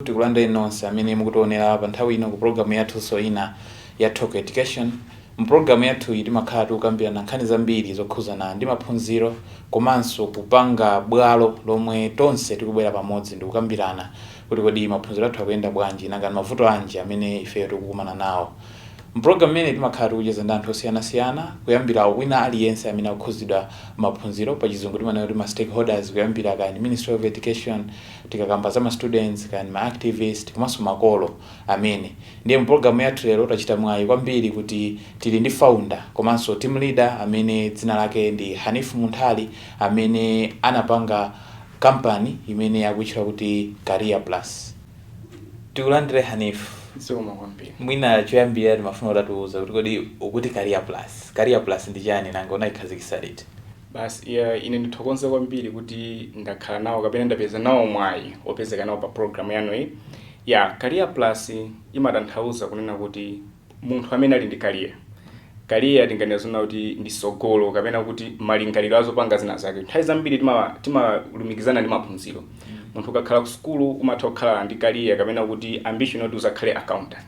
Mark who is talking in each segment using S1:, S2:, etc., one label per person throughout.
S1: Tikulandireni nonse amene mukutionera pa nthawi ino ku pulogalamu yathunso ina ya Talk Education. Mu pulogalamu yathuyi timakhala tikukambirana nkhani zambiri zokhudzana ndi maphunziro komanso kupanga bwalo lomwe tonse tikubwera pamodzi ndikukambirana kuti kodi maphunziro athu akuyenda bwanji, nanga ndi mavuto anji amene ifeyo tikukumana nawo. Mu pulogalamu imeneyi timakhala tikucheza ndi anthu osiyanasiyana kuyambira wina aliyense amene akukhudzidwa ndi maphunziro, pa chizungu timanena kuti ma stakeholders, kuyambira kaya ndi Ministry of Education, tikakamba za ma students kaya ndi ma activist komanso makolo amene ndiye mu program yathu lero tachita mwayi kwambiri kuti tili ndi founder komanso team leader amene dzina lake ndi Hanif Munthali amene anapanga company imene akuitchula kuti Career Plus tikulandire Hanif zikomo
S2: kwambiri mwina choyambira
S1: timafuna utatiuza kuti kodi ukuti Career Plus Career Plus ndi chani nanga unaikhazikisa liti Basi,
S2: i, ine ndithokoze kwambiri kuti ndakhala nawo kapena ndapeza nawo mwayi opezeka nawo pa program yanu iyi. Ya, Career Plus imatanthauza kunena kuti munthu amene ali ndi career. Career tinganene zonena kuti ndi sogolo kapena kuti malingaliro azopanga zina zake. Nthawi zambiri tima, timalumikizana ndi maphunziro. Munthu ukakhala ku sukulu umatha kukhala ndi career kapena kuti ambition yoti uzakhale accountant.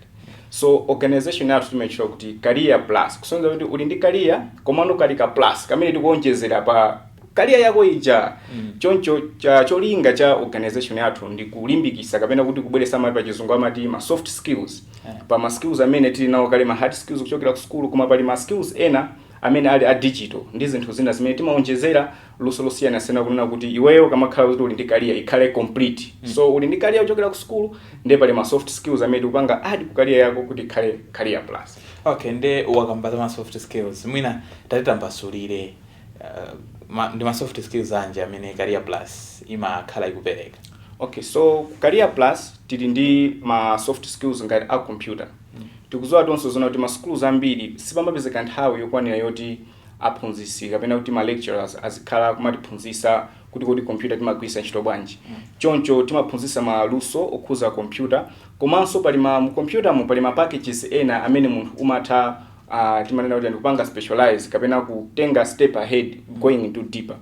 S2: so organization yathu timaitchula kuti career plus kusonyeza kuti uli ndi career komano kali ka plus kamene tikuonjezera pa career yako ija choncho cha cholinga cha organization yathu ndi kulimbikisa kapena kuti kubweretsa ma pa chizungu amati ma soft skills pa ma skills amene tili nawo kale ma hard skills kuchokera ku school koma pali ma skills ena amene ali a digital ndi zinthu zina zimene timaonjezera luso losiyanasiyana kunena kuti iweyo ukamakhala kuti uli ndi career ikhale complete mm. so uli ndi career kuchokera ku school nde pali ma soft skills amene tikupanga add ku career yako kuti ikhale career plus okay nde
S1: wakamba za ma soft skills mwina tatitambasulire uh, ma, ndi ma soft skills anji amene career plus imakhala ikupereka okay
S2: so career plus tili ndi ma soft skills ngati a computer mm. tikuziwa tonse zona kuti ma schools ambiri sipamapezeka nthawi yokwanira yoti aphunzitsi kapena kuti ma lecturers azikhala akumatiphunzitsa kuti kodi kompyuta timagwiritsa ntchito bwanji choncho timaphunzitsa maluso okhuza kompyuta komanso pali ma mu kompyuta mu pali ma packages ena amene munthu umatha uh, timanena kuti ndikupanga specialize kapena kutenga step ahead going into deeper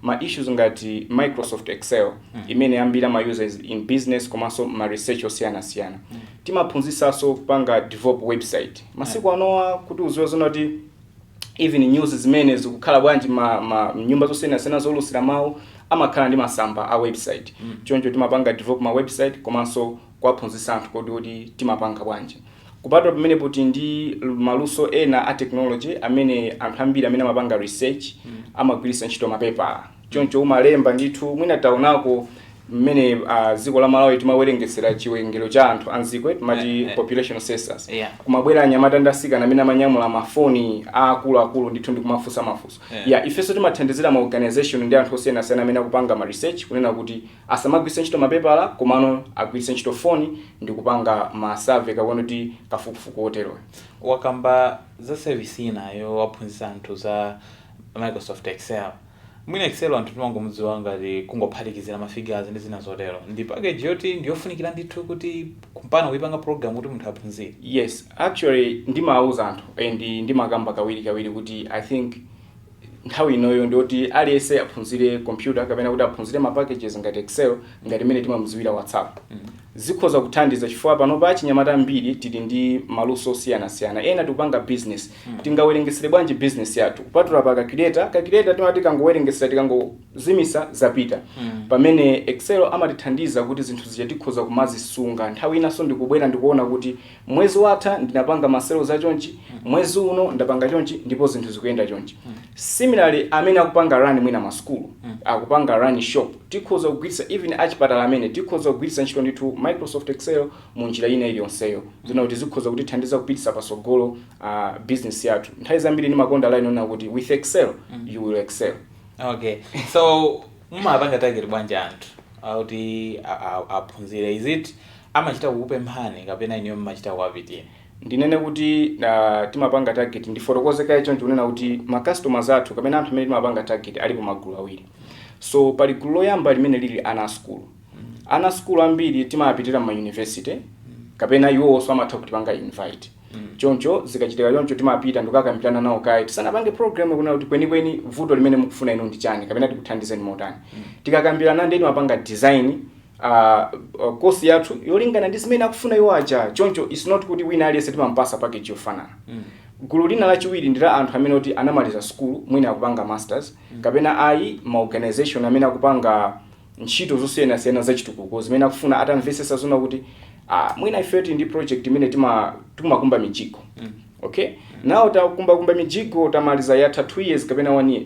S2: ma issues ngati microsoft excel imene ambiri amayuza in business komanso ma research osiyanasiyana timaphunzitsanso kupanga develop website masiku anowa mukuziwa zonati even news zimene zikukhala bwanji ma, ma nyumba zosiyanasiyana zoulusira mawu amakhala ndi masamba a website mm. choncho timapanga develop ma website komanso kuwaphunzitsa anthu kuti kodi timapanga bwanji kupatula pamenepo tili ndi maluso ena a technology amene anthu ambiri amene amapanga research mm. amagwiritsa ntchito mapepala choncho umalemba ndithu mwina taonako mmene uh, dziko la malawi timawerengetsera chiwerengero cha anthu anzikwe timati Eh, eh. population census Yeah. kumabwera anyamata ndi asikana amene amanyamula mafoni aakuluakulu ndithu ndi kumafunsa mafunso Yeah. ya ifenso timathandizira ma organization ndi anthu osiyanasiyana amene akupanga ma research kunena kuti asamagwiritse ntchito mapepala komano agwiritse ntchito foni ndi kupanga ma survey kapena kuti kafukufuku oteroyo wakamba
S1: za sevisi inayo waphunzitsa anthu za Microsoft Excel. Mwina Excel anthu timangomudziwa ngati kungophatikizira ma figures ndi zina zotero. Ndi package yoti ndi yofunikira ndithu kuti kumpanga kuipanga program kuti munthu aphunzire. Yes, actually
S2: ndimauza anthu and ndimakamba kawiri kawiri kuti I think nthawi inoyo ndiyoti aliyense aphunzire computer kapena kuti aphunzire ma packages ngati Excel ngati mmene timamudziwira WhatsApp. Zikhoza kuthandiza chifukwa panopa achinyamata ambiri tili ndi maluso osiyanasiyana. Ena tikupanga bizinesi. Tingawerengetsere bwanji bizinesi yathu? Kupatula pa calculator, calculator timati tikangowerengetsera, tikangozimitsa zapita. Pamene Excel amatithandiza kuti zinthu zija tikhoza kumazisunga. Nthawi inanso ndikubwera ndikuona kuti Mwezi watha ndinapanga ma sales a chonchi, mwezi uno ndapanga chonchi ndipo zinthu zikuyenda chonchi. Similarly amene akupanga run mwina ma sukulu, akupanga run shop, tikhoza kugwiritsa even achipatala amene, tikhoza kugwiritsa ntchito ndithu Microsoft Excel mu njira ina iliyonseyo. Zoona kuti zikhoza kutithandiza kupititsa patsogolo ah, business yathu. Nthawi zambiri ndimakonda line yonena kuti with Excel you will excel. okay
S1: so mumapanga target bwanji anthu kuti a- a- aphunzire is it amachita kukupemphani kapena inuyo mmachita kuwapitira? Ndinene
S2: kuti timapanga target, ndifotokoze kaye chonchi kunena kuti ma customers athu kapena anthu amene timapanga target alipo magulu awiri. So pali gulu loyamba limene lili ana a sukulu. Ana a sukulu ambiri timawapitira mma university kapena iwowonso amatha kutipanga invite. Choncho zikachitika choncho timapita ndikukakambirana nawo kaye tisanapange program kunena kuti kwenikweni vuto limene mukufuna inu ndi chani kapena tikuthandizeni motani. Tikakambirana ndiye timapanga design kosi yathu yolingana ndi zimene akufuna iwo aja choncho its not kuti wina aliyense timampasa package yofanana gulu lina lachiwiri ndi la anthu amene oti anamaliza sukulu mwina akupanga masters kapena ayi maorganization amene akupanga ntchito zosiyanasiyana zachitukuko zimene akufuna atamvesesa zoona kuti ah, mwina ifeyo tili ndi project imene tima- timakumba mijigo Ok now takumbakumba mijigo tamaliza yatha 2 years kapena 1 year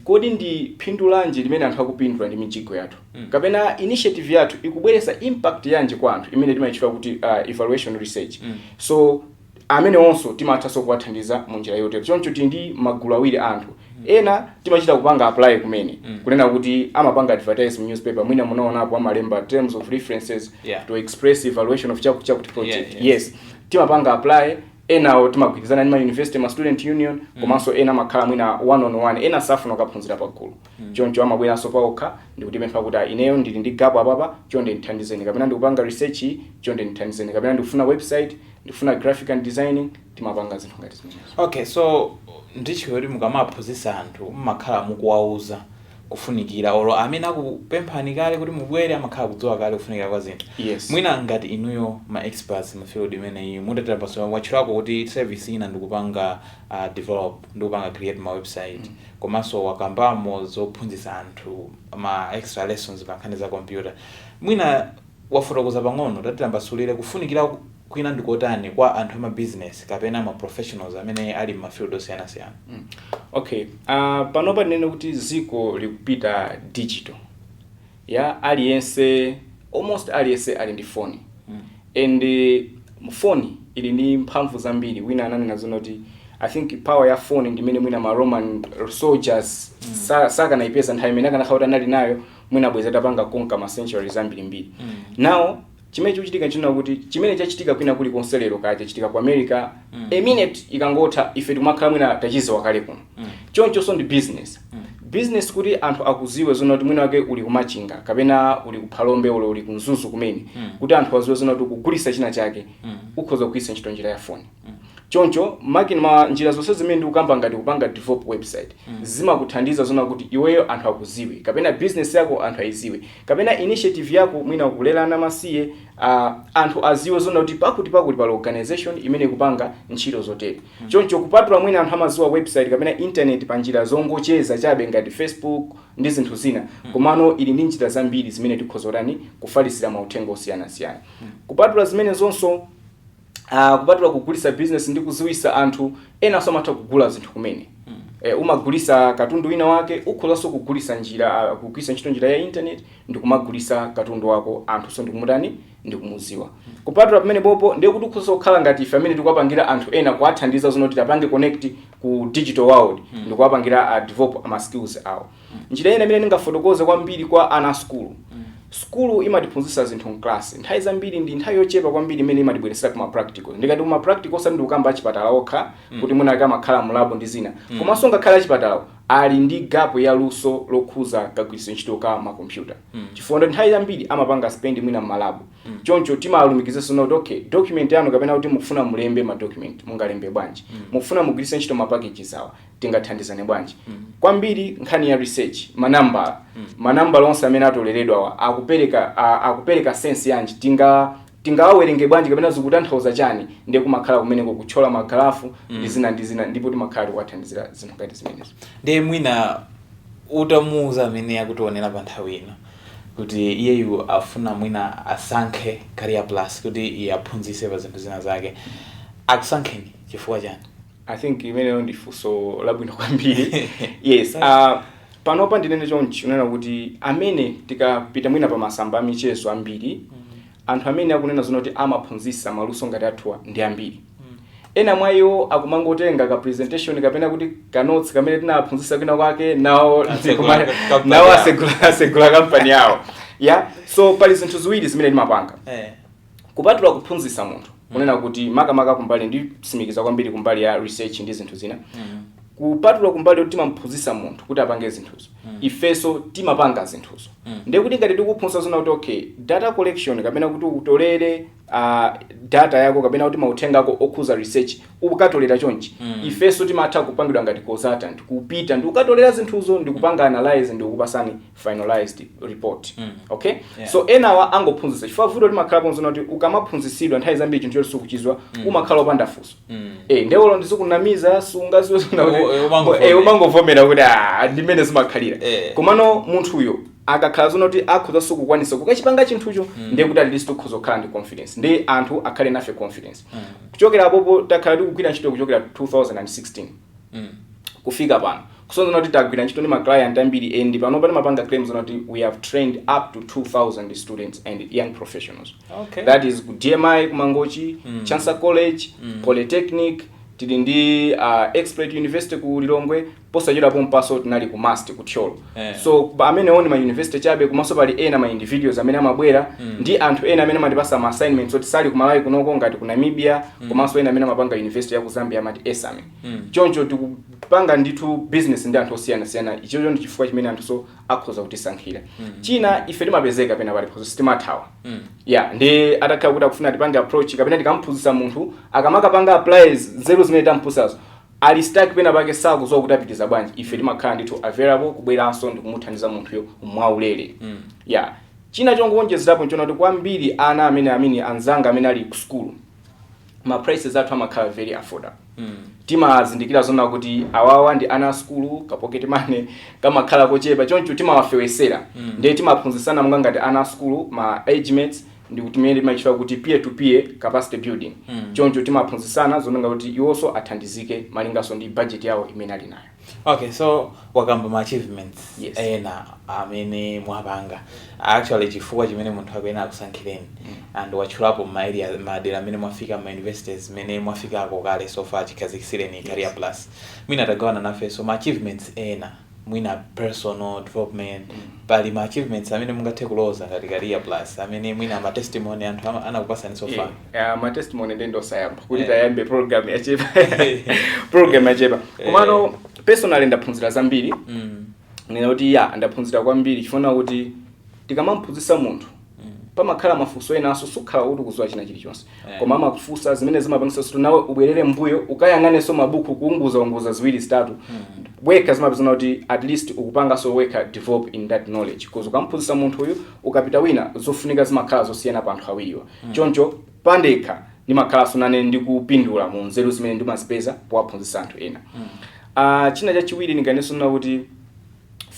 S2: kodi ndi phindu lanji limene anthu akupindula ndi mijigo yathu kapena initiative yathu ikubweretsa impact yanji kwa anthu imene timayitchula kuti uh, evaluation research so amenewonso timathanso kuwathandiza mu njira yotero choncho tili ndi magulu awiri a anthu ena timachita kupanga apply kumene kunena kuti amapanga advertise mu newspaper mwina munaonapo amalemba terms of references Yeah. to express evaluation of chakuti chakuti project Yeah, yeah. yes timapanga apply enawo timagwirizana ndi ma university ma student union komanso ena amakhala mwina one on one ena safuna kukaphunzira pagulu choncho amabweranso paokha ndikutipempha kuti "Ah, ineyo ndili ndi gap apapa chonde ndithandizeni kapena ndikupanga research iyi chonde ndithandizeni kapena ndikufuna website ndikufuna graphic and designing timapanga zinthu ngati zimenezo okay so
S1: ndiye kuti mukamaphunzitsa anthu mmakhala mukuwauza kufunikira olo amene akupemphani kale kuti mubwere amakhala kudziwa kale kufunikira kwa zinthu yes. mwina ngati
S2: inuyo
S1: ma experts mu field imene iyi mutatambasula watchulako kuti service ina ndikupanga uh, develop ndikupanga create ma website mm. komanso wakambamo zophunzitsa anthu ma extra lessons pankhani za computer mwina wafotokoza pang'ono, tatitambasulire kufunikira kwina ndikotani kwa anthu ama business kapena ma professionals amene ali mma field
S2: osiyanasiyana? Okay, panopa tinene kuti dziko likupita digital, ya aliyense almost aliyense ali ndi foni and foni ili ndi mphamvu zambiri, wina ananena zona kuti I think power ya foni ndi imene mwina ma Roman soldiers sakanayipeza nthawi imene akanakhala kuti anali nayo, mwina bwezi atapanga conquer ma centuries ambiri mbiri mm. now chimene chikuchitika nchina kuti chimene chachitika kwina kuli konse lero kaya chachitika ku america mm. a minute ikangotha ife timakhala mwina tachiziwa kale kuno mm. chonchonso ndi business mm. business kuti anthu akuziwe zona kuti mwina wake uli kumachinga kapena uli kuphalombe olo uli kumzuzu kumene mm. kuti anthu aziwe zona kuti ukugulisa china chake mm. ukhoza kugwirisa ntchito njira ya foni Choncho makina njira zonse zimene ndikukamba ngati kupanga develop website zimakuthandiza zoona kuti iweyo anthu akudziwe kapena business yako anthu aidziwe kapena initiative yako mwina kulera ana amasiye a anthu adziwe zoona kuti pakuti pakuti pali organization imene ikupanga ntchito zotere. Choncho kupatula mwina anthu amadziwa website kapena internet pa njira zongocheza chabe ngati Facebook ndi zinthu zina komano ili ndi njira zambiri zimene tikhoza kutani kufalitsira mauthenga osiyanasiyana. Kupatula zimenezonso uh, kupatula kugulisa business ndi kuziwisa anthu enanso amatha kugula zinthu kumene mm. eh, umagulisa katundu wina wake ukhozanso kugulisa njira uh, kugwirisa ntchito njira ya internet ndi kumagulisa katundu wako anthu so ndikumatani ndikumuziwa mm. kupatula pamenepopo ndiye kuti ukhoza kukhala ngati ife amene tikuwapangira anthu ena kuwathandiza zona kuti apange connect ku digital world mm. ndikuwapangira uh, develop ama skills awo Njira ina imene ndingafotokoze kwambiri kwa ana a sukulu, sukulu imatiphunzitsa zinthu m'klasi. Nthawi zambiri ndi nthawi yochepa kwambiri imene imatibweretsera ku ma practicals. Ndikati ku ma practical osati ndikukamba achipatala okha kuti mwina amakhala mu lab ndi zina. Komanso ngakhale achipatalawo ali ndi gap ya luso lokhuza kagwiritsidwe ntchito ka ma computer. Chifukwa ndiye kuti nthawi zambiri amapanga spend mwina m'ma lab. Choncho timawalumikiza zoona kuti okay, document yanu kapena kuti mukufuna mulembe ma document, mungalembe bwanji? Mukufuna mugwiritse ntchito ma packages awa, tingathandizane bwanji kwambiri nkhani ya research manambala manambala onse amene atoleredwawa akupereka a- akupereka sense yanji tinga tingawawerenge bwanji kapena zikutanthauza chani ndiye kumakhala kumeneko kutchola magalafu ndi zina ndi zina ndipo timakhala tikuwathandizira zinthu ngati zimenezo ndiye mwina
S1: utamuuza amene akutionera pa nthawi ino kuti iyeyu afuna mwina asankhe career plus kuti iye aphunzise pa zinthu zina zake akusankheni chifukwa chani I think
S2: imeneyo ndi funso labwino kwambiri yes uh, panopa ndinene chonchi kunena kuti amene tikapita mwina pa masamba a michezo ambiri anthu amene akunena zona kuti amaphunzitsa maluso ngati athuwa ndi ambiri ena mwa iwo akumangotenga ka presentation kapena kuti kanotsi kamene tinaphunzitsa kwina kwake nawo asegula kampani yawo ya so pali zinthu ziwiri zimene timapanga Eh. kupatula kuphunzitsa munthu kunena kuti makamaka kumbali ndisimikiza kwambiri kumbali ya research ndi zinthu zina kupatula kumbali yoti timamphunzitsa munthu kuti apange zinthuzo ifenso timapanga zinthuzo ndiye kuti ngati tikuphunzitsa zona kuti okay data collection kapena kuti utolere uh, data yako kapena kuti mauthenga ako okhuza research ukatolera chonchi ifenso timatha kupangidwa ngati consultant kupita ndikukatolera zinthuzo ndikupanga analyze ndikukupasani finalized report mm. okay yeah. so enawa angophunzitsa chifukwa vuto limakhalapo nzona kuti ukamaphunzitsidwa nthawi zambiri chinthu choti sukuchizwa mm. umakhala opanda funso mm. eh nde olo ndizikunamiza sungaziwe eh, umangovomera kuti ah ndimene zimakhalira eh. komano munthuyo akakhala zona kuti akhoza kukwanisa kukachipanga chinthucho mm. ndiye kuti atleast ukhoza kukhala ndi confidence ndi anthu akhale nafe confidence mm. kuchokera apopo takhala tikugwira ntchito kuchokera 2016 kufika pano. Kusonyeza zoona kuti tagwira ntchito ndi ma client ambiri and panopa timapanga claim zoona kuti we have trained up to 2000 students and young professionals. Okay. That is ku DMI ku Mangochi, Chancellor College, Polytechnic, tili ndi uh, Exploits University ku Lilongwe, posachedwa pompanso tinali ku MUST ku Thyolo. Eh. so pamene only ma university chabe komanso pali ena ma individuals amene amabwera ndi anthu ena amene amatipasa ma assignments oti sali ku Malawi kunoko ngati ku Namibia komanso ena amene amapanga university ya ku Zambia amati esame choncho tikupanga ndithu business ndi anthu osiyanasiyana ichocho ndi chifukwa chimene anthunso akhoza kutisankhira china ife timapezeka pena pali phunso sitimathawa ya ndi atakhala kuti akufuna tipange approach kapena tikamphunzitsa munthu akamakapanga apply nzeru zimene tamphunzitsazo Ali stuck pena pake sakuziwa kuti apitiza bwanji ife timakhala ndithu available kubweranso ndikumuthandiza munthuyo mwaulere yeah china chongowonjezerapo nchona kuti kwambiri ana amene amene anzanga amene ali ku school ma prices athu amakhala very affordable timazindikira zona kuti awawa ndi ana a sukulu ka pocket money kamakhala kochepa choncho timawafewetsera ndiye timaphunzisana monga ngati ana a sukulu ma age mates ndi kuti imene imatchedwa kuti peer to peer capacity building choncho timaphunzitsana zonga kuti iwonso athandizike malinganso ndi budget yawo imene ali nayo okay so
S1: wakamba ma achievements Yes. ena amene mwapanga actually chifukwa chimene munthu akuyenera akusankhireni and watchulapo ma area madera amene mwafika ma universities amene mwafikako kale so far chikhazikisireni career plus mwina tagawanani nafenso ma achievements ena mwina personal development pali ma achievements amene mungathe kuloza ngati career plus amene mwina ma testimony anthu ama- anakupasani so far Yeah, ma testimony ndi
S2: osayamba kuti Yeah. tayambe program yachepa program yachepa komano personally ndaphunzira zambiri Mm. nena kuti ya ndaphunzira kwambiri chifukwa kuti tikamamphunzisa munthu pamakhala mafunso ena so sukhala kuti ukuziwa china chilichonse Eh. koma amakufunsa zimene zimapangisa kuti nawe ubwerere mbuyo ukayang'anenso mabuku kuunguza unguza ziwiri zitatu wekha zimapezana kuti at least ukupanganso wekha develop in that knowledge because ukamphunzisa munthu uyu ukapita kwina zofunika zimakhala zosiyana pa anthu awiriwa choncho pandekha ndimakhalanso nane ndikupindula mu nzeru zimene ndimazipeza powaphunzisa anthu ena Ah, china chachiwiri ndinganenenso kuti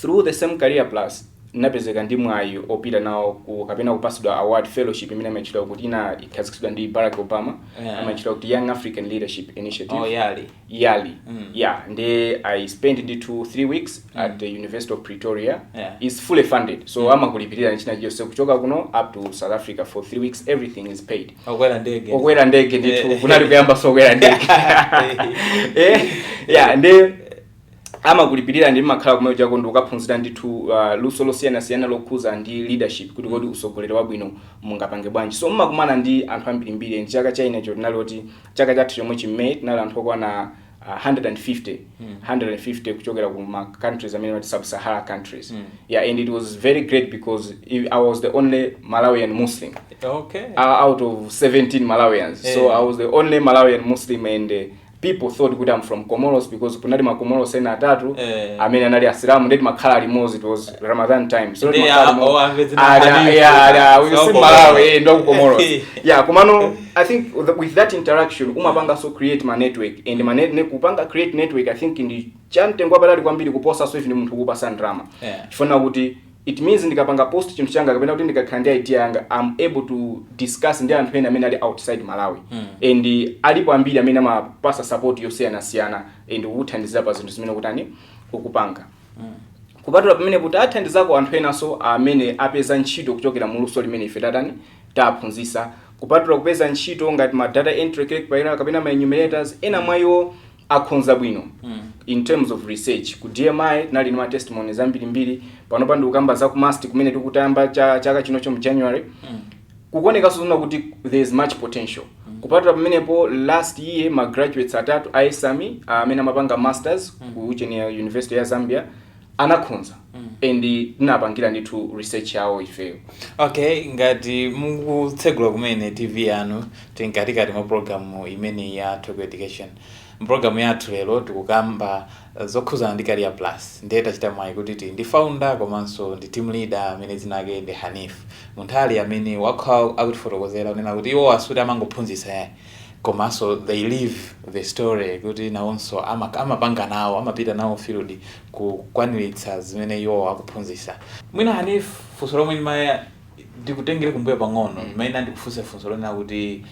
S2: Through the same Career Plus ndinapezeka ndi mwayi wopita nawo ku kapena kupatsidwa award fellowship imene imatchedwa kuti inakhazikitsidwa ndi Barack Obama Yeah. imatchedwa kuti Young African Leadership Initiative Oh, yali. yali Mm. yeah nde i spent ndi two three weeks at the university of pretoria Yeah. it's fully funded so amakulipirira china chilichonse kuchoka kuno up to south africa for three weeks everything is paid Okwera ndege. okwera ndege ndithu Eh. kunali kuyambanso kukwera ndege Eh. Eh, yeah nde amakulipirira nde mmakhala komwe chako ndi kukaphunzira ndithu uh, luso losiyanasiyana lokhuza ndi leadership kuti kodi usogoleri wabwino mungapange bwanji so mmakumana ndi anthu ambirimbiri ndi chaka cha inecho tinali oti chaka chathu chomwe chimene tinali anthu okwana uh, 150 150 kuchokera ku ma countries amene amati sub sahara countries yeah and it was very great because i I was the only malawian muslim okay uh, out of 17 Malawians. So Eh. I was the only Malawian Muslim and uh, people thought kuti I'm from Comoros because kunali ma Comoros ena atatu Eh. amene anali asilamu nde timakhala limodzi it was Ramadan time so Ndi timakhala a- limodzi. oh, amve zina Ah, yeah, hadithi. yeah, yeah, we So see Comoros. Malawi, eh, ndo ku Comoros yeah komano I think with the- with that interaction umapanganso create ma network and ma net, ne, kupanga create network I think ndi chamtengo wapatali kwambiri kuposanso even munthu kukupasa ndalama Yeah. chifukwa kuti It means ndikapanga post chinthu changa kapena kuti ndikakhala ndi idea yanga I'm able to discuss ndi anthu ena amene ali outside Malawi and alipo ambiri amene amapasa support yosiyanasiyana and kukuthandiza pa zinthu zimene ukutani ukupanga kupatula pamene tathandizako anthu enanso amene apeza ntchito kuchokera mu luso limene ife tatani taphunzisa kupatula kupeza ntchito ngati ma data entry clerk paira kapena ma enumerators ena mwa iwo akhonza bwino in terms of research ku dmi tinali ndi ma testimonies ambirimbiri panopa ndikukamba za ku mast kumene tikuti tayamba cha- chaka chinocho mu january kukuonekanso zona kuti there is much potential kupatula pamenepo last year ma graduates atatu a ESAMI amene amapanga masters ku uchenera university ya zambia anakhonza and tinapangira ndithu research yawo ifeyo okay
S1: ngati mukutsegula kumene tv yanu tili mkatikati mwa programu imeneyi ya Talk education mpulogalamu yathu lero tikukamba eh, zokhuzana ndi career plus ndiye tachita mwayi kuti tili ndi founder komanso ndi team leader amene dzina lake ndi hanif munthali amene wakhala akutifotokozera kunena kuti iwo sikuti amangophunzitsa yayi komanso they live the story kuti nawonso ama- amapanga nawo amapita nawo field kukwaniritsa zimene iwowo akuphunzitsa mwina hanif funso lomwe ndimati ndikutengere kumbuyo pang'ono ndimati ndikufunse funso lonena kuti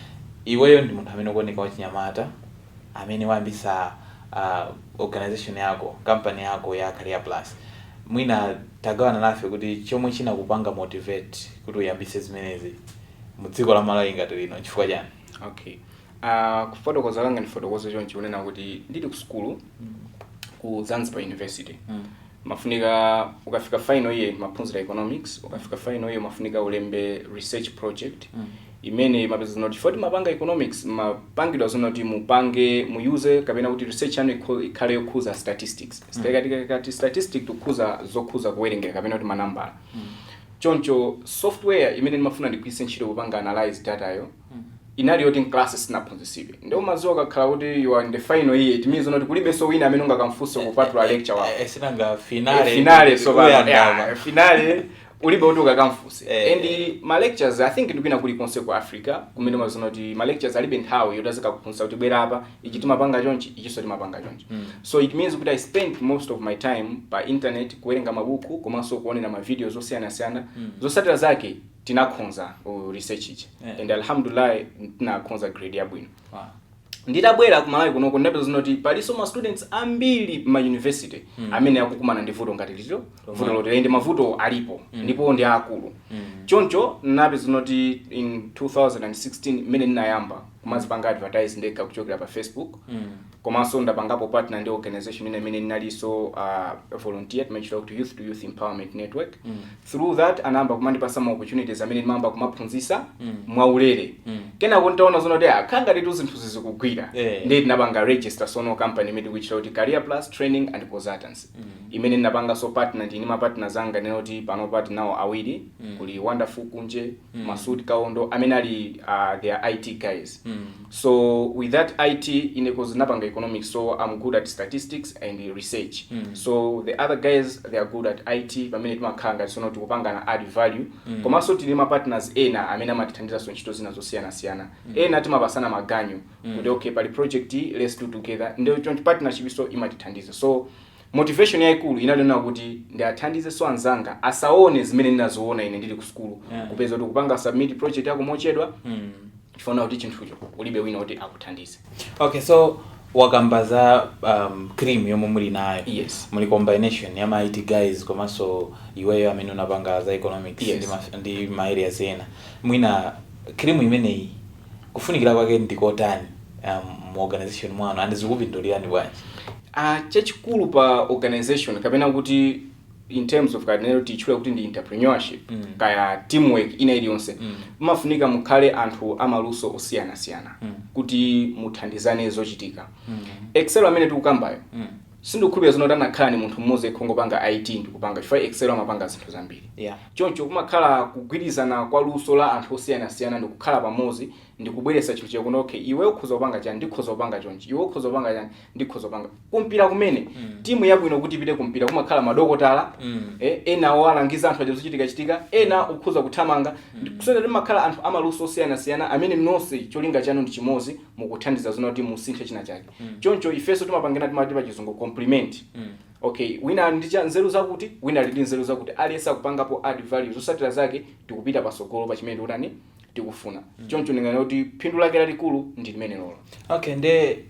S1: iweyo ndi munthu amene ukuoneka wachinyamata amene wayambitsa uh, organization yako kampani yako ya career plus mwina tagawana nafe kuti chomwe chinakupanga motivate kuti uyambitse zimenezi mu dziko la malawi ngati lino nchifukwa chani
S2: okay uh, kufotokoza kanga ndifotokoze chonchi kunena kuti ndili ku sukulu ku zanzibar university Mm. umafunika ukafika final year ukamaphunzira economics ukafika final year umafunika ulembe research project Mm. imene mumapeza zonoti poti mumapanga economics mumapangidwa zonoti mupange muyuze kapena kuti research yanu ikho- ikhale yokhuza statistics Stati- kati statistic tikuuza zokhuza kuwerengera kapena kuti manambala Choncho software imene ndimafuna ndigwiritse ntchito popanga analyse data yo inali yoti m'kalasi sitinaphunzitsidwe. Nde umadziwa ukakhala kuti you are in the final year it means zonoti kulibenso wina amene ungakamfunse kupatula lecturer wako. Eh, sinanga Eh,
S1: finale finale so pano
S2: ikuyandama. yeah, finale ulibe kuti ukakamfunse Eh, and eh. ma lecturers i think ndikwina kulikonse ku africa kumene umaziona kuti ma lecturers alibe nthawi yoti azikakuphunzitsa kuti bwera apa ichi timapanga chonchi ichinso timapanga chonchi mm. so it means kuti i spent most of my time pa internet kuwerenga mabuku komanso kuonera ma videos osiyanasiyana mm. zotsatira zake tinakhonza uh, research ichi yeah. and alhamdulillah tinakhonza grade yabwino wow nditabwera ku malawi kunoko ndapeza zonoti palinso ma students ambiri ma university mm. amene akukumana ndi vuto ngati ili vuto loti lende mavuto alipo mm. ndipo ndi akulu mm. choncho ndinapeza zonoti in 2016 mmene ndinayamba kumadzipanga advertise ndekha kuchokera pa facebook komanso ndapangapo partner ndi organization ina imene ndinalinso uh, volunteer timaitcha kuti youth to youth empowerment network through that anayamba kumandipatsa ma opportunities amene ndimayamba kumaphunzitsa mwaulere kenako ntaona zona kuti zikukhala ngatitu zinthu zija zikugwira Eh. ndi tinapanga register sono company imene tikuitcha kuti career plus training and consultancy imene ndinapanganso partner ndi ndi mapartners anga ndinene kuti panopa tili nawo awiri kuli wonderful kunje mm. masud kaondo amene ali uh, their it guys mm. so with that it ine cause napanga economics so i'm good at statistics and research mm. so the other guys they are good at it pamene timakhala ngati sono tikupangana add value mm. komanso tili ndi ma partners ena amene amatithandizanso ntchito zina zosiyanasiyana mm. ena timapasana maganyu mm. kuti okay pali project iyi, let's do together ndi joint partnership so imatithandiza so Motivation yaikulu inali yonena kuti ndiathandizenso anzanga asaone zimene ndinaziona ine ndili kusukulu, Yeah. kupeza kuti kupanga submit project yako mochedwa Mm. chifukwa unaona kuti chinthucho ulibe wina woti akuthandize. okay so
S1: wakamba za um, cream yomwe muli nayo Yes. muli
S2: combination
S1: ya ma IT guys komanso iweyo amene unapanga za economics Yes. ndi, ma, ndi ma areas ena mwina cream imeneyi Kufunikira kwake ndi kotani mu organization mwanu and zikupindulirani bwanji? Chachikulu
S2: pa organization kapena kuti in terms of katichula kuti ndi entrepreneurship mm. kaya teamwork ina iliyonse mm. umafunika mukhale anthu amaluso osiyanasiyana mm. kuti muthandizane zochitika mm. excel amene tikukambayo mm. Sindikukhulupira zonena kuti anakhala ndi munthu mmodzi yekha ongopanga IT ndikupanga chifukwa Excel amapanga zinthu zambiri. Yeah. Choncho kumakhala kugwirizana kwa luso la anthu osiyanasiyana ndikukhala pamodzi ndikubweretsa chinthu chakuti okay iwe ukhoza kupanga chani ndikhoza kupanga chonchi iwe ukhoza kupanga chani ndikhoza kupanga kumpira kumene Mm. timu yabwino kuti ipite kumpira kumakhala madokotala Mm. eh, ena owalangiza anthu aja zochitikachitika ena ukhoza kuthamanga kusonyeza kuti mumakhala anthu amaluso osiyanasiyana amene nonse cholinga chanu ndi chimodzi mukuthandiza zonena kuti musinthe china chake choncho ifenso timapangana timati pa chizungu compliment okay wina ali ndi nzeru zakuti wina ali ndi nzeru zakuti aliyense akupangapo add value zosatira zake tikupita pasogolo pa chimene tikutani tikufuna choncho ndinganene kuti phindu lake lalikulu ndi limenelolo okay nde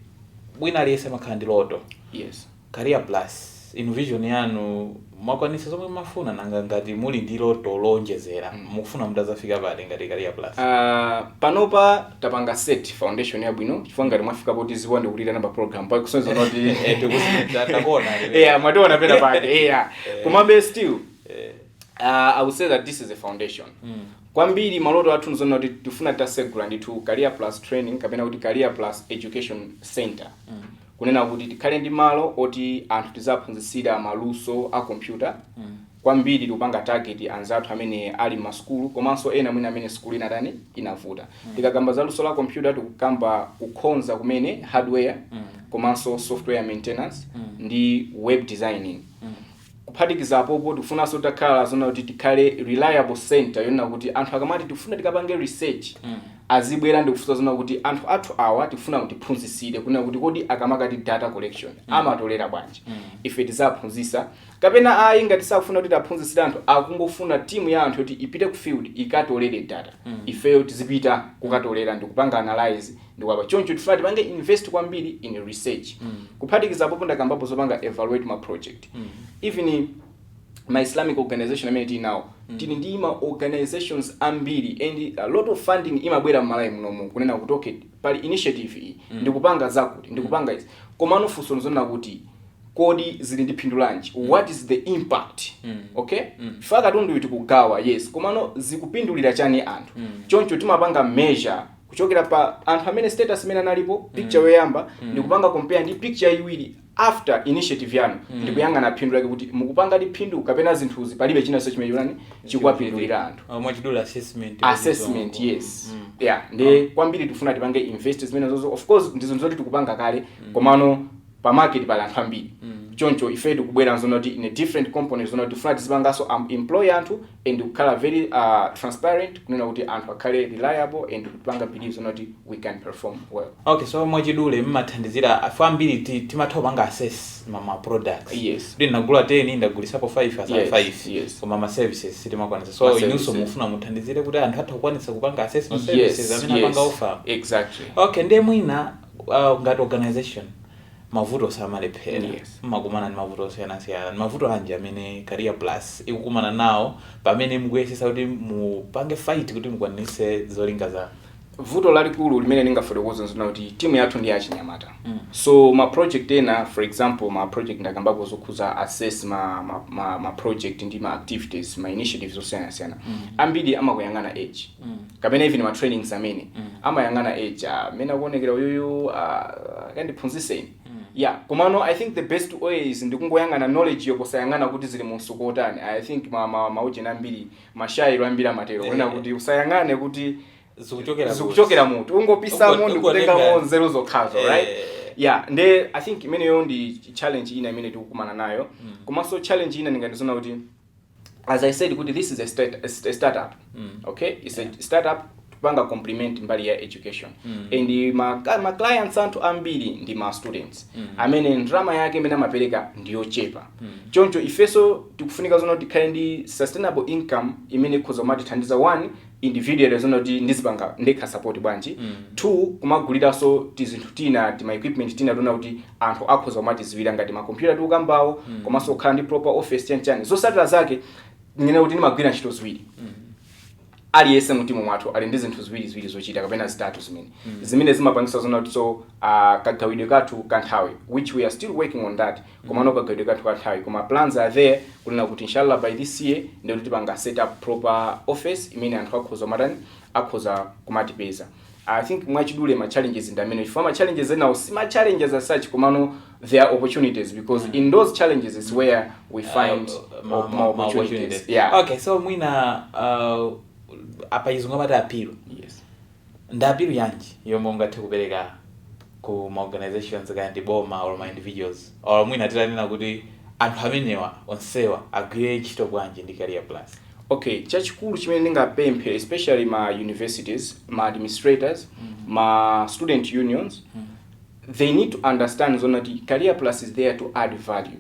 S1: wina aliyense amakhala ndi loto yes
S2: Career
S1: plus, inu vision yanu mwakwanisa zomwe mmafuna? Nanga ngati muli ndi loto loonjezera mukufuna mutazafika pati ngati Career plus? Aaa panopa
S2: tapanga set foundation yabwino chifukwa ngati mwafika potidziwa ndikutiitana pa program pa kusonyeza kuti Eh, tikuzi- ta-
S1: takuona, eh. yeah
S2: mwationa pena pake yeah komabe still Eh, uh, i would say that this is a foundation Mm. kwambiri maloto athu ndi zonena kuti tifuna tasegula ndithu career plus training kapena kuti career plus education center kunena kuti tikhale ndi malo oti anthu tizaphunzitsira ma luso a kompyuta kwambiri tikupanga target anzathu amene ali mma sukulu komanso ena mwina amene sukulu inatani inavuta tikakamba za luso la kompyuta tikukamba kukhonza kumene hardware komanso software maintenance ndi web designing Kuphatikiza apopo tikufunanso titakhala zonena kuti tikhale reliable centre yonena kuti anthu akamati tikufuna tikapange research azibwera ndikufunsa zonena kuti anthu athu awa tikufuna mutiphunzitsire kunena kuti kodi akamati data collection amatolera bwanji ife tizaphunzitsa kapena ayi ngati sakufuna kuti tiaphunzitsire anthu akungofuna team ya anthu yoti ipite ku field ikatolere data ifeyo tizipita kukatolera ndikupanga analyse ndi waba choncho tifuna tipange invest kwambiri in research kuphatikiza apopo ndakambapo zopanga evaluate ma project even ma islamic organization amene tili nawo tili ndi ma organizations ambiri and a lot of funding imabwera m'Malawi munomu kunena kuti okay pali initiative iyi tikupanga zakuti tikupanga izi komano funso nzonena kuti kodi zili ndi phindu lanji what is the impact okay faka tundu tikugawa yes komano zikupindulira chani anthu choncho timapanga measure kuchokera pa anthu amene status imene analipo picture yoyamba ndikupanga compare ndi picture yachiwiri after initiative yanu ndikuyang'ana phindu lake kuti mukupanga ndi phindu kapena zinthuzi palibe chinanso chimene chujeni chikuwapindulira anthu Ah, mwachidula
S1: assessment
S2: assessment Zongo. yes Mm. yeah nde kwambiri tikufuna tipange invest zimenezozo of course ndizo zoti tikupanga kale komano pa market pali anthu ambiri choncho ifeyo tikubwera nzonena kuti in a different component zonena kuti tikufuna tizipanganso am- employ anthu and kukhala very uh, transparent kunena kuti anthu akhale reliable and kupanga believe zonena kuti we can perform well okay so mwachidule
S1: mmathandizira afe ambiri ti- timatha kupanga assess ma, ma products Yes. kuti
S2: ndagula
S1: 10 ndagulisapo 5 atsala Yes, 5 yes. koma ma services sitimakwanisa Ma so services. inunso mufuna muthandizire kuti anthu athe kukwanisa kupanga assess ma services amene apanga offer exactly okay
S2: ndiye mwina
S1: uh, ngati organization mavuto samalephera Yes. mmakumana ndi mavuto osiyanasiyana ndi mavuto anji amene career plus ikukumana nawo pamene mukuyesesa kuti mupange fight kuti mukwanise zolinga zanu vuto
S2: lalikulu limene ndingafotokoze nzonena kuti timu yathu ndi yachinyamata Mm. so ma project ena for example ma project ndakambapo zokhuza assess ma, ma, ma, ma project ndi ma activities ma initiatives osiyanasiyana ambiri amakuyang'ana age kapena even ma trainings amene amayang'ana age ah, mmene akuonekera uyuyu ah, akandiphunzise ine yeah komano i think the best way is ndikungoyang'ana knowledge yo posayang'ana kuti zili mu mtsuko otani i think ma, ma, maujeni ambiri mashairo ambiri amatero kunena kuti usayang'ane kuti zikuchokera zikuchokera mutu ungopisamo Ungo- ndikutengamo ungotenga- nzeru zokhazo Eh. right yeah nde i think imeneyo ndi challenge ina imene tikukumana nayo komanso challenge ina ndinganene kuti as i said kuti this is a, stat, a startup mm. okay it's yeah. a startup panga complement mbali ya education mm. and ma, ma clients athu ambiri ndi ma students mm. amene ndrama yake imene amapereka ndiyochepa mm. choncho ifenso tikufunika zoti tikhale ndi sustainable income imene ikhoza kumatithandiza one individually zoona kuti ndizipanga ndekha support bwanji Mm. two kumaguliranso tizinthu tina tima equipment tina tiona kuti anthu akhoza kumatidziwira ngati makompyuta tikukambawo Mm. komanso kukhala ndi proper office chani chani zotsatira zake monga ndanena kuti ndimagwira ntchito ziwiri Mm. aliyense mtimu mwathu ali ndi zinthu ziwiri ziwiri zochita kapena zitatu zimene Mm. zimene zimapangitsa zoona kuti so uh, kagawidwe kathu ka nthawi which we are still working on that komano kagawidwe kathu kanthawi koma plans are there kunena kuti inshallah by this year nde kuti tipanga set up proper office imene anthu akhoza matani akhoza kumatipeza i think mwachidule ma challenges ndi amene chifukwa ma challenges enawo si ma challenges as such komano there are opportunities because in those challenges is where we find Uh, ma- op- ma- more ma opportunities opportunities. yeah okay so mwina
S1: uh, pa chizungu amati appeal yes Ndi appeal yanji yomwe ungathe kupereka ku ma organizations kaya ndi boma or ma individuals or mwina titanena kuti anthu amenewa onsewa agwire ntchito bwanji ndi Career Plus? Okay, chachikulu
S2: chimene ndingapemphe especially ma universities, ma administrators, ma student unions, they need to understand zoona kuti Career Plus is there to add value.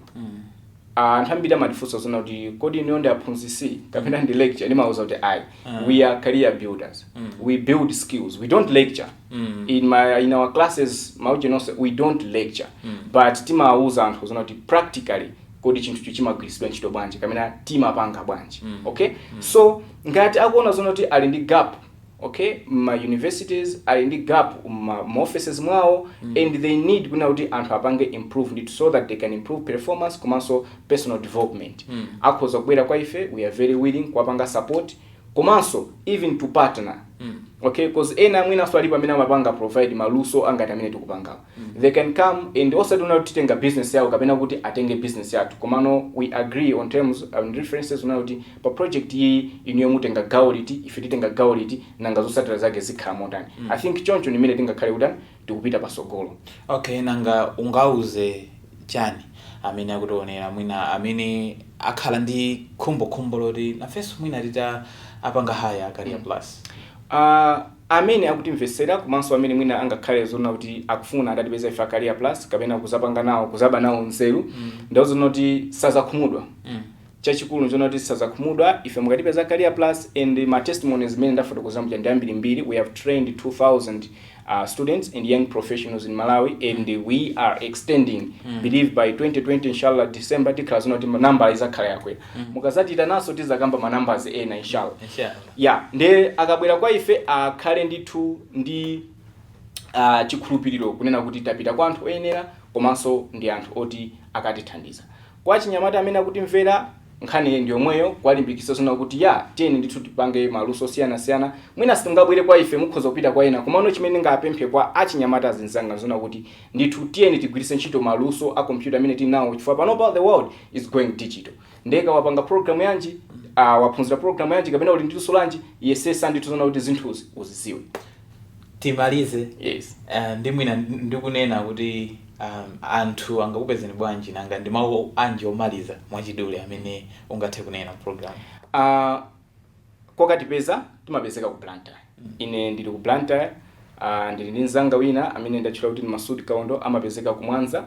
S2: Anthu ambiri amatifunsa zoona kuti kodi inuyo ndi aphunzitsi kapena ndi lecturer ndimawauza kuti ayi mm. we are career builders mm. we build skills we don't lecture mm. in, my, in our classes maujeni onse we don't lecture mm. but timawauza anthu zoona kuti practically kodi chinthucho chimagwiritsidwa ntchito bwanji kapena timapanga bwanji mm. okay mm. so ngati akuona zoona kuti ali ndi gap ok mma universities ali ndi gap mma mma offices mwawo and they need kunena kuti anthu apange improve ndithu so that they can improve performance komanso personal development akhoza kubwera kwa ife we are very willing kuwapanga support komanso even to partner okay cause ena mwinanso alipo amene amapanga provide maluso angati amene tikupangawo they can come and osati kunena kuti titenga business yawo kapena kuti atenge business yathu komano we agree on terms and references kunena kuti pa project iyi inuyo mutenga gawo liti ife titenga gawo liti nanga zotsatira zake zikhala motani i think choncho ndimene tingakhale kuti tikupita patsogolo okay
S1: nanga ungauze chani amene akutionera mwina amene akhala ndi khumbokhumbo loti nafenso mwina titawapanga hire career plus uh,
S2: Amene akutimvetsera komanso amene mwina angakhale zonena kuti akufuna atatipeza ife a Career Plus kapena kuzapanga nawo, kuzaba nawo nzeru, ndiwawuze kuti sadzakhumudwa. Chachikulu nchonena kuti sadzakhumudwa ife mukatipeza a Career Plus and ma testimonies mmene ndafotokozera muja ndi ambirimbiri, we have trained 2,000 students and young professionals in Malawi and we are extending, believe by 2020 inshallah December tikhala zonena kuti nambala izakhala yakwera. Mukazatiitananso tizakamba ma numbers ena inshallah. Inshallah. Ya, ndiye akabwera kwa ife akhale ndithu ndi a, chikhulupiriro kunena kuti tapita kwa anthu oyenera komanso ndi anthu oti akatithandiza. Kwa achinyamata amene akutimvera, nkhani ndi yomweyi, kuwalimbikitsa zonena kuti ya, tiyeni ndithu tipange maluso osiyanasiyana. Mwina simungabwere kwa ife, mukhoza kupita kwa ena, komano chimene ndingapemphe kwa achinyamata azinzanga n'zonena kuti ndithu tiyeni tigwiritse ntchito maluso a kompyuta amene tili nawo chifukwa panopa the world is going digital. Ndiye kaya wapanga program yanji, ah, waphunzira program yanji kapena uli ndi luso lanji, yesesa ndithu zonena kuti zinthuzi uzidziwe. Timalize
S1: Yes. eh,
S2: ndi
S1: mwina ndikunena kuti um, anthu angakupezeni bwanji nanga ndi mawu anji omaliza mwachidule amene ungathe kunena program. Ah,
S2: kokatipeza timapezeka ku blantyre ine ndili ku blantyre uh, ndili ndi mzanga wina amene ndatchula kuti ndi masudi kaondo amapezeka ku mwanza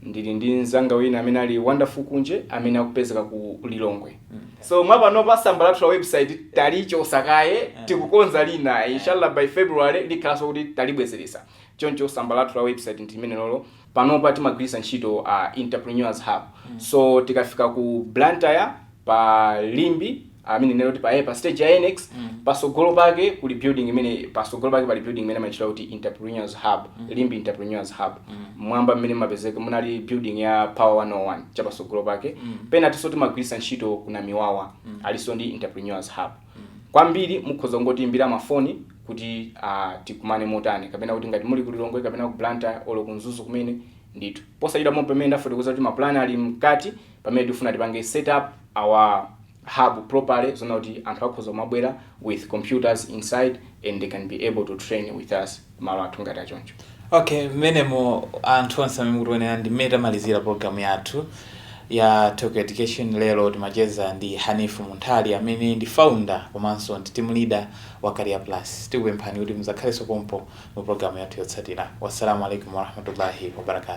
S2: ndili ndi mzanga wina amene ali wonderful kunje amene akupezeka ku lilongwe so mwapanopa tsamba lathu la website talichotsa kaye tikukonza lina inshallah by february likhalanso kuti talibwezeretsa choncho tsamba lathu la website ndi limenelo lo panopa timagwiritsa ntchito a Entrepreneurs Hub so tikafika ku Blantyre pa Limbe I mean kunena kuti pa, eh, pa stage ya NX pasogolo pake kuli building imene pasogolo pake pali building imene amatchula kuti Entrepreneurs Hub Limbe Entrepreneurs Hub m'mwamba mmene mapezeka munali building ya Power 101 chapasogolo pake pena tinso timagwiritsa ntchito ku Namiwawa alinso ndi Entrepreneurs Hub kwambiri mukhoza kungotiyimbira mafoni kuti ah, tikumane motani kapena kuti ngati muli ku lilongwe kapena ku blantyre olo ku mzuzu kumene ndithu posachedwa pomwe pamene ndafotokoza kuti mapulani ali mkati pamene tifuna tipange set up our hub properly zonena kuti anthu akhoza kumabwera with computers inside and they can be able to train with us malo athu ngati achoncho. Okay,
S1: mmenemo anthu onse amene mukutionera ndi mmene tamalizira program yathu ya Talk Education. Lero timacheza ndi Haneef Munthali amene ndi founder komanso ndi team leader wa Career Plus. Tikupemphani kuti mudzakhalenso pompo mu program yathu yotsatira. Wassalamu alaikum warahmatullahi wabarakatuh.